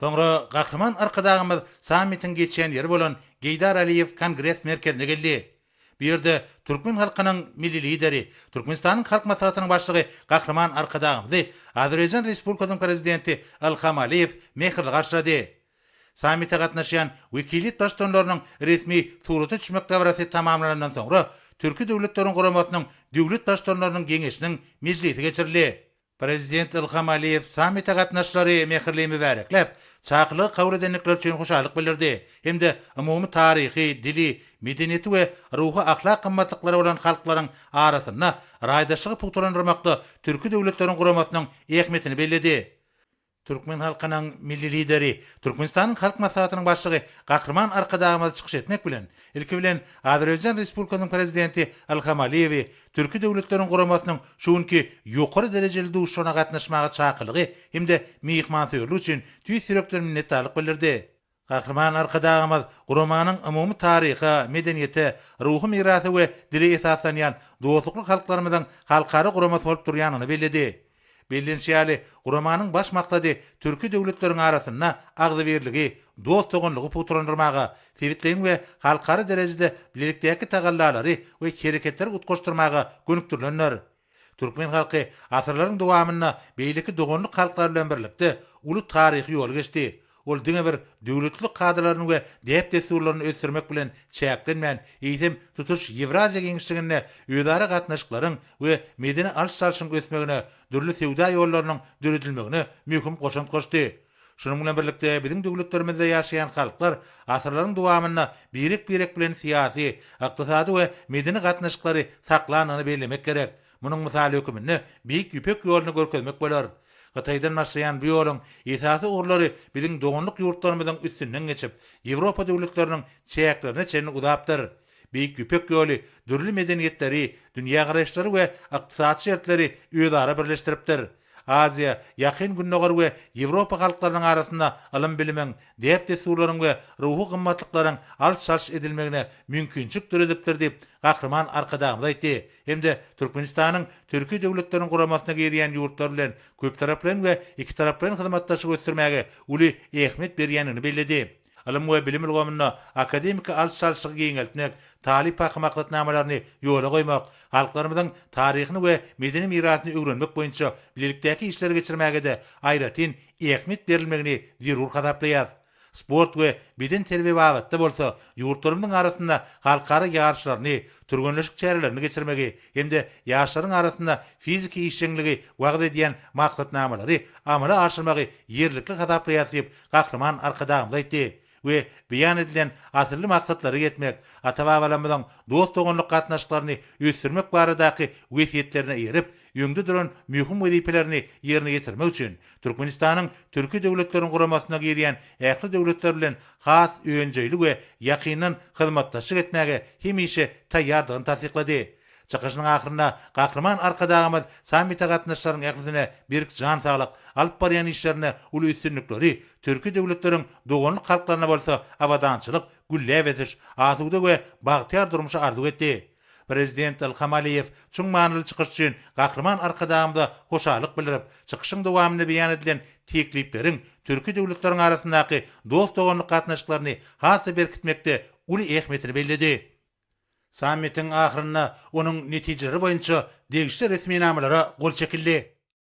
Soňra Gahryman Arkadagymyz sammitiň geçýän ýeri bolan Geýdar Aliýew kongres merkezine geldi. Bu ýerde türkmen halkynyň Milli Lideri, Türkmenistanyň Halk Maslahatynyň Başlygy Gahryman Arkadagymyzy Azerbaýjan Respublikasynyň Prezidenti Ilham Aliýew mähirli garşylady. Sammite gatnaşýan wekiliýet baştutanlarynyň resmi surata düşmek dabarasy tamamlanandan soňra, Türki Döwletleriň Guramasynyň Döwlet Baştutanlarynyň Geňeşiniň mejlisi geçirildi. Prezident Ilham Aliýew sammite gatnaşyjylary mähirli mübärekläp, çakylygy kabul edendikleri üçin hoşallyk bildirdi hem-de umumy taryhy, dili, medeniýeti we ruhy-ahlak gymmatlyklary bolan halklaryň arasynda raýdaşlygy pugtalandyrmakda Türki Döwletleriň Guramasynyň ähmiýetini belledi. Türkmen halkynyň Milli Lideri, Türkmenistanyň Halk Maslahatynyň Başlygy Gahryman Arkadagymyz çykyş etmek bilen, ilki bilen, Azerbaýjan Respublikasynyň Prezidenti Ilham Aliýewi Türki Döwletleriň Guramasynyň şu günki ýokary derejeli duşuşygyna gatnaşmaga çakylygy hem-de myhmansöýerligi üçin tüýs ýürekden minnetdarlyk bildirdi. Gahryman Arkadagymyz guramanyň umumy taryha, medeniýete, ruhy mirasa we dile esaslanýan dostlukly halklarymyzyň halkara guramasy bolup durýanyny belledi. Bellenişi ýaly, guramanyň baş maksady türki döwletleriň arasynda agzybirligi, dost-doganlygy pugtalandyrmaga, sebitleýin we halkara derejede bilelikdäki tagallalary we hereketleri utgaşdyrmaga gönükdirilendir. Türkmen halky asyrlaryň dowamynda beýleki doganlyk halklar bilen birlikde uly taryhy ýoly geçdi. Ol diňe bir döwletlilik kadalaryny we däp-dessurlaryny ösdürmek bilen çäklenmän, eýsem, tutuş Ýewraziýa giňişliginde özara gatnaşyklaryň we medeni alyş-çalşyň ösmegine, dürli söwda ýollarynyň döredilmegine möhüm goşant goşdy. Şunuň bilen birlikde, biziň döwletlerimizde ýaşaýan halklar asyrlaryň dowamynda birek-birek bilen syýasy, ykdysady we medeni gatnaşyklary saklandygyny bellemek gerek. Munuň mysaly höküminde Beýik Ýüpek ýoluny görkezmek bolar. Hytaýdan başlaýan bu ýoluň esasy ugurlary biziň doganlyk ýurtlarymyzyň üstünden geçip, Ýewropa döwletleriniň çäklerine çenli uzapdyr. Beýik Ýüpek ýoly dürli medeniýetleri, dünýägaraýyşlary we ykdysady şertleri özara birleşdiripdir. Aziýa, Ýakyn Gündogar we Ýewropa halklarynyň arasynda ylym-bilimiň, däp-dessurlaryň we ruhy gymmatlyklaryň alş-çalş edilmegine mümkinçilik döredipdir diýip, Gahryman Arkadagymyz aýtdy hem-de Türkmenistanyň Türki Döwletleriň Guramasyna girýän ýurtlar bilen köptaraplaýyn we ikitaraplaýyn hyzmatdaşlygy ösdürmäge uly ähmiýet berýändigini belledi. Ylym we bilim ulgamynda akademiki alyş-çalşygy giňeltmek, talyp-haky maksatnamalaryny ýola goýmak, halklarymyzyň taryhyny we medeni mirasyny öwrenmek boýunça bilelikdäki işleri geçirmäge-de aýratyn ähmiýet berilmegini zerur hasaplaýarys. Sport we bedenterbiýe babatda bolsa ýurtlarymyzyň arasynda halkara ýaryşlaryny, türgenleşik çärelerini geçirmegi hem-de ýaşlaryň arasynda fiziki işjeňligi wagyz edýän maksatnamalary amala aşyrmagy ýerlikli hasaplaýarys diýip, Gahryman Arkadagymyz aýtdy we beýan edilen asylly maksatlara ýetmek, ata-babalarymyzyň dost-doganlyk gatnaşyklaryny ösdürmek baradaky wesýetlerine eýerip, öňde duran möhüm wezipelerini ýerine ýetirmek üçin Türkmenistanyň Türki Döwletleriň Guramasyna girýän ähli döwletler bilen has önjeýli we ýakyndan hyzmatdaşlyk etmäge hemişe taýýardygyny tassyklady. Çykyşynyň ahyrynda Gahryman Arkadagymyz sammite gatnaşyjylaryň ählisine berk jan saglyk, alyp barýan işlerinde uly üstünlikleri, Türki döwletleriň doganlyk halklaryna bolsa abadançylyk, gülläp ösüş, asuda we bagtyýar durmuşy arzuw etdi. Prezident Ilham Aliýew çuň manyly çykyş üçin Gahryman Arkadagymyza hoşallyk bildirip, çykyşyň dowamynda beýan edilen teklipleriň Türki döwletleriň arasyndaky dost-doganlyk gatnaşyklaryny has-da berkitmekde uly ähmiýetini belledi. Sammitiň ahyrynda onuň netijeleri boýunça degişli resminamalara gol çekildi.